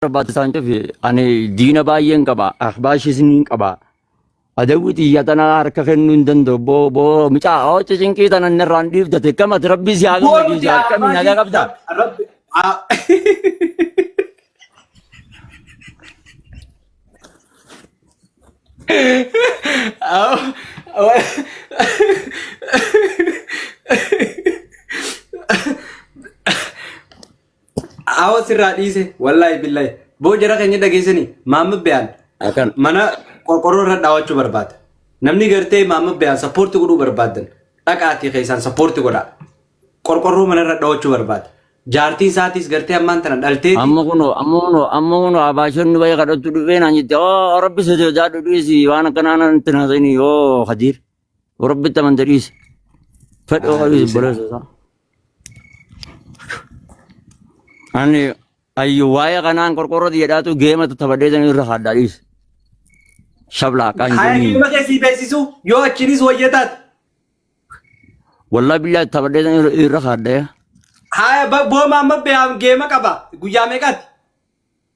barbaachisaa hin fi ani diina baay'een qaba ahbaashis niin qaba adawwi xiyya tana harka kennuu hin danda'u boo boo mucaa hooci cinqii tana inni irraan dhiibdate kamati rabbii si haa Goonu gammachiisu jaa akkami nagaa Ahbaashii qabda Rabbi haa. Awa sirraa dhiise wallaahi billahi boo jara keenya dhageessanii maamma biyaan Akan. mana qorqorroo irra dhaawachuu barbaada. Namni gartee maamma biyaan sappoorti godhuu barbaadan dhaqaatii keessaan sappoorti godhaa. Qorqorroo mana irra dhaawachuu barbaada. Jaartiin isaatiis gartee ammaan tana dhalteeti. Amma kunoo amma kunoo amma kunoo abaashonni bayee kadhattu dhufee naan jette oo rabbi sosodaadhu dhiisi waan akkanaa natti hin haasa'ini yoo hadiir. Rabbitti amante dhiisi. Fedha Haa ofiis dhiisina. obboleessa isaa. Ani ayyu waa'ee kanaan qorqorroti jedhaatu geematu taphadhee san irra haaddaa dhiisi. Shablaa akkaan hin Haa kenniin. geema kee sii beeksisu yoo achiinis wayya taate. Wallaa billaa taphadhee san irra- irra haaddaa. Haa ba- booma amma beeyaan geema qaba guyyaa meeqaati?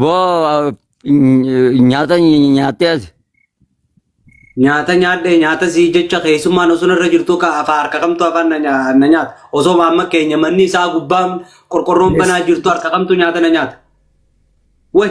Boo nyaata nyaattee as. Nyaata nyaadhe nyaata sii jecha keessummaan osoo irra jirtu ka afaa harka kamtu afaan na nya- na nyaata. Osoo amma keenya manni isaa gubbaan qorqorroon banaa jirtu harka kamtu nyaata na nyaata. Way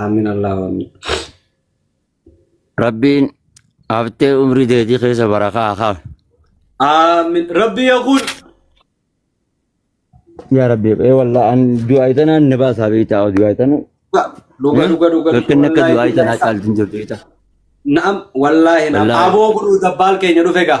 Aamin Allahu Aamin. Rabbiin haftee umrii teetii keessa barakaa haa kaafu. Aamin. Rabbi yaa kun. Yaa Rabbi, ee wallah an du'aa itanaan na baasaa beektaa du'aa itanu. Dhuga dhuga dhuga. Rakkinni akka du'aa itanaa caalti hin jirtu beektaa. Naam wallaahi naam. Wallaahi. Aboo godhuu dabbaal keenya dhufe gaa.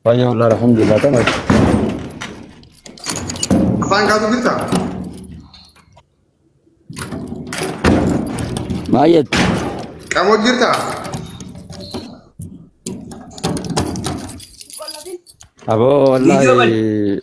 Baay'ee wal'aa alhamdulillah ta'e. Afaan kaatu jirta? Baay'ee Qamoo jirta? aboo Video wallaahi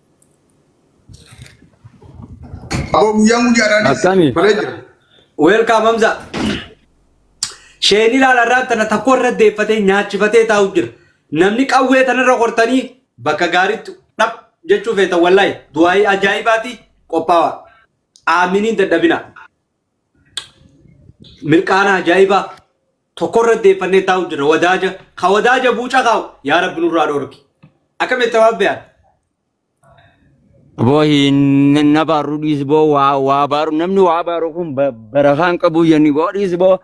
Aboo guyyaan guyyaadhaanis Akkami? balee jira. Weelkaam Hamza. Sheen ilaala irraa tana takko irra deeffatee nyaachifatee taa'u jira. Namni qawwee tanarra qortanii bakka gaariitti dhab jechuu feetan wallaahi du'aayii ajaa'ibaati qophaawa. Aaminiin dadhabina. Mirqaana ajaa'ibaa. tokkorra deeffannee taa'u jirra wadaaja ka wadaaja buuca kaa'u yaa rabbi nurraa dhoorki akkam itti waan beekan Boo hin na baaru dhiis boo waa waa baaru namni waa baaru kun ba- barakaan qabu yanni boo dhiis boo.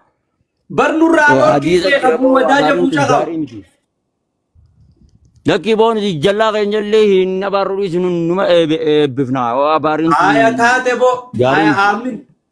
bar nurraa Boo dhoorki hadiisa beeka jira buu boo waa wadaaja baaruun buuca kun kaa'u gaarii miti. Lakkii boo nuti jallaa keenya illee hin na baaru dhiis nu- numa eebbi- eebbifna waa baariin kun aya taate boo gaarii aya miti. aamin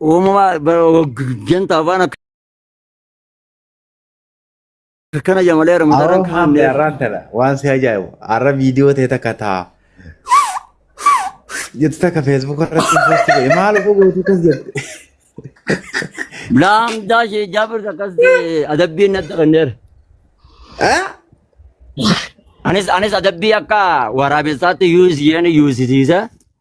Uumamaa janta afaan akkana jamalee Aroo ramadaran maammi kaanneef. arraan tana waan si ajaa'ibu arra viidiyoo ta'e takka ta'a. Jettu takka feesbuuk irratti posti godhe maal utuu gootu kas jette. Laamdaa ishee jaabir akkas adabbiin natti kenneera. Ah? Anis anis adabbii akka waraabessaatti yuus isheen yuusisiisa.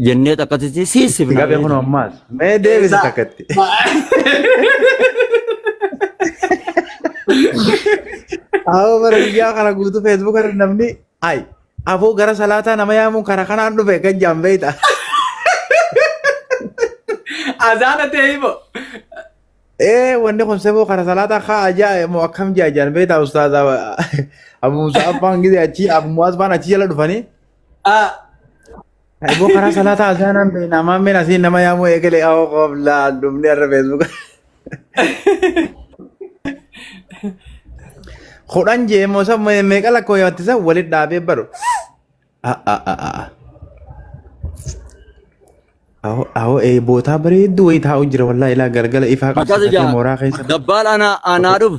jennee takkatitti siisifna. Gabe kun ammaas. Mee deebisi takkatti. Awoo bara biyyaa kana guutuu feesbuuk irra namni ay afoo gara salaataa nama yaamuun karaa kanaan dhufe kan jaan beeyta. Azaana ta'e himo. Ee wanni kun seboo karaa salaataa kaa ajaa moo akkam jaa jaan beeyta ustaaza Abu Musa Abbaan gidee achi Abu Muaz Abbaan achi jala dhufanii. Ah, Eeboo karaa salaataa azaanaan beekna. Ammaan meen asiin nama yaamuu eegale awoo qooflaa dhumni irra feesbuuka. Kudhan jee immoo san meeqa lakkoo yaatti san walitti dhaabee baru. Awoo eebootaa bareedduu wayii taa'u jira wallaahi ilaa galgala ifaa Akkas qabsiifatee ijaa mooraa keessa. dabbaal anaa anaa dhufu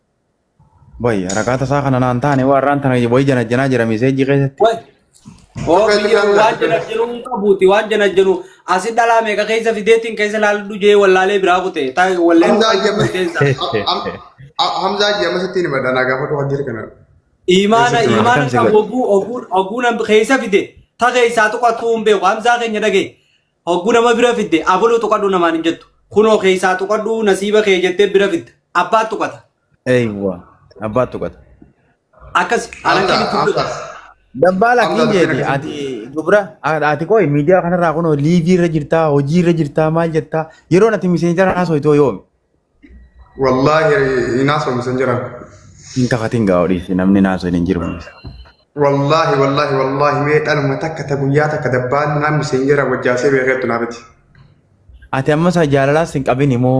Boy, rakaata isaa kana naan taane waan raan tana boy janajjanaa jira miseejii keessatti. Way. Oo Akka biyya ilmaan waan jana janu hin qabuuti waan jana janu asi dhalaa meeqa keessa fideetiin keessa laallu jee wallaalee biraa kute taa wallee Hamzaa Jama. keessa. Hamzaa Jama sittiin hima danaa gaafatu kan jiru kana. Imaana Keessatti waan imaana akkam si qabu godhe. oguu oguu oguu nam keessa fide ta keessaa tuqatuu hin beeku hamzaa keenya dhagee Hogguu nama bira fidde abaluu tuqadhu namaan hin jettu. Kunoo keessaa tuqadhu nasiiba kee jettee bira fidda. Abbaa tuqata. Eeywa. Abbaa tuqata. Akkasi alanqii Akka gidduu akka godha. Dabbaala Amma kiin jeeti akkana ati dubra ati qoy miidiyaa kanarraa kunoo liivii irra jirtaa hojii irra jirtaa maal jettaa yeroon ati miseenjara haasoo itoo yoomi Wallaahi hin haasofnu san jiran. Hin kafatin gaa odhiisi namni naasoo hin jiru. Wallaahi wallaahi wallaahi mee dhaluma takka ta guyyaa takka dabbaan naamni sin jira wajjaasee beekeettu naa biti. Ati amma isaa jaalalaas hin qabin immoo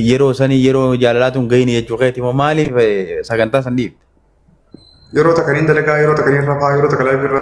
yeroo sanii yeroo jaalalaa tun gahin jechuu keeti immoo maaliif sagantaa san dhiifte? Yeroo takka niin dalagaa yeroo takka niin rafaa yeroo takka laayif irra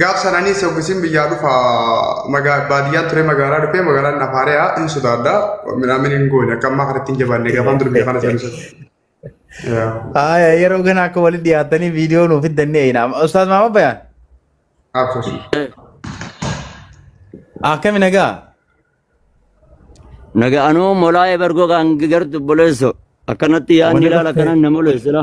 Gaaf sananii soggisiin biyyaa dhufa baadiyyaa ture magaalaa dhufee magaalaan nafaariyaa hin sodaadha. Midhaan hin goone akka ammaa kanatti hin jabaanne gaafaan dur biyya kana seensu. Aya yeroo kana akka walitti dhiyaatanii viidiyoo nuuf fiddannee eeyina. Ustaaz Maamad Bayaan Absus. akkami nagaa? Naga anuu molaa'ee bargoo kan gartu boleesso akkanatti yaadni ilaala kanan na moleessila.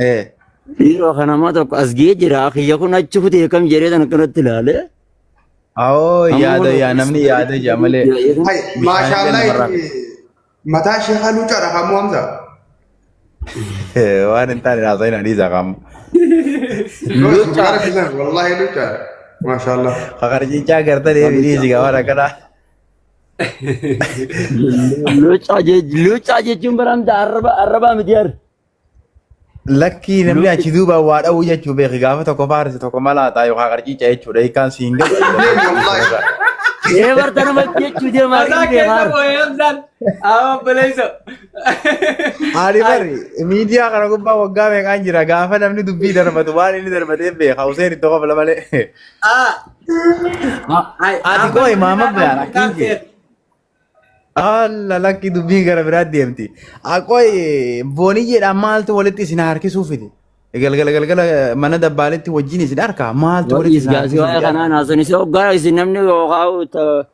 Eh. Dhiiroo kan namaa tokko as ga'ee jira. Kiyya kun achi kutee kam jedhee kan akkanatti ilaale. Awoo Amma yaada kun- yaa namni yaada jaa malee. Hay, maashaallah Bishaan itti mataa ishee halluu cara kamuu hamsa. Eh, Waan hin taane haasa'in hadiisa qaama. Lucha. Wallahi halluu cara. Maashaallah. Kakarjichaa gartanii hiriisi waan akkanaa. Locaa jech- locaa jechuun baramta arraba arrabaa miti har. Lakkii namni Luuti- achi duuba waa dha'uu jechuu beeki gaafa tokko faarsi tokko malaataa yookaan qarciica jechuudha hiikaan siin galu. Ee barta nama jechuu deemaa Mataa hin keessa beekaa. boo'ee hamsaan. Awa obboleessa. Ani bari miidiyaa kana gubbaa waggaa meeqaan jira gaafa namni dubbii darbatu waan inni darbatee beeka Huseen itti kofla malee. Ah. Ay, Ati amma koo imaama miidhaa beekan kan akkiin kee. ta'e. Alla lakki dubbii gara biraa deemti. Aqooy booniyyeedhaan maaltu walitti isin harkisuu fide? Galgala galgala mana dabbaaletti wajjin isin harkaa maaltu walitti Wa'iis isin gaasii harkisuu waa'ee fide? kanaan haasofnise hoggaa isin namni yookaan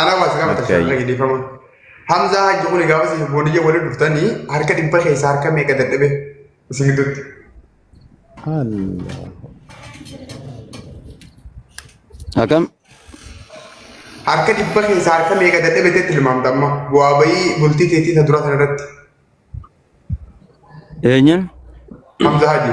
Anaa waasi gaafa Akka tashaa ayyi. dhiifama. Hamzaa hajji kuni gaafa isin booniyya waliin dhuftanii harka dhibba keessaa harka meeqa dadhabe isin gidduutti. Allah. Akam? Harka dhibba keessaa harka meeqa dadhabe teetti tilmaamta amma bu'aa bayii bultii teetii isa duraa sana irratti Eenyuun? Hamzaa hajji.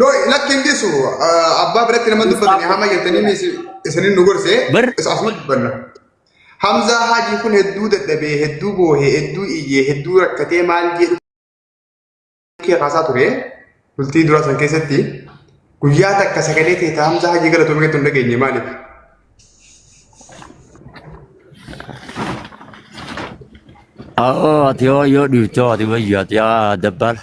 No, lakki hin dhiisu. Ah, Abbaa biratti nama dubbatani hama jettanii is- isinin nu gorse. Bar- Is asuma dubbanna. Hamzaa Haajii kun hedduu dadhabee, hedduu boohee, hedduu iyyee, hedduu rakkatee maal jedhu kee kaasaa ture. Bultii duraa san keessatti guyyaa takka sagalee ta'e ta'a Hamzaa Haajii galatoomee gatti hin dhageenye maaliif? Oo, ati yoo yoo dhiifte ati wayyu ati yaa dabbaala.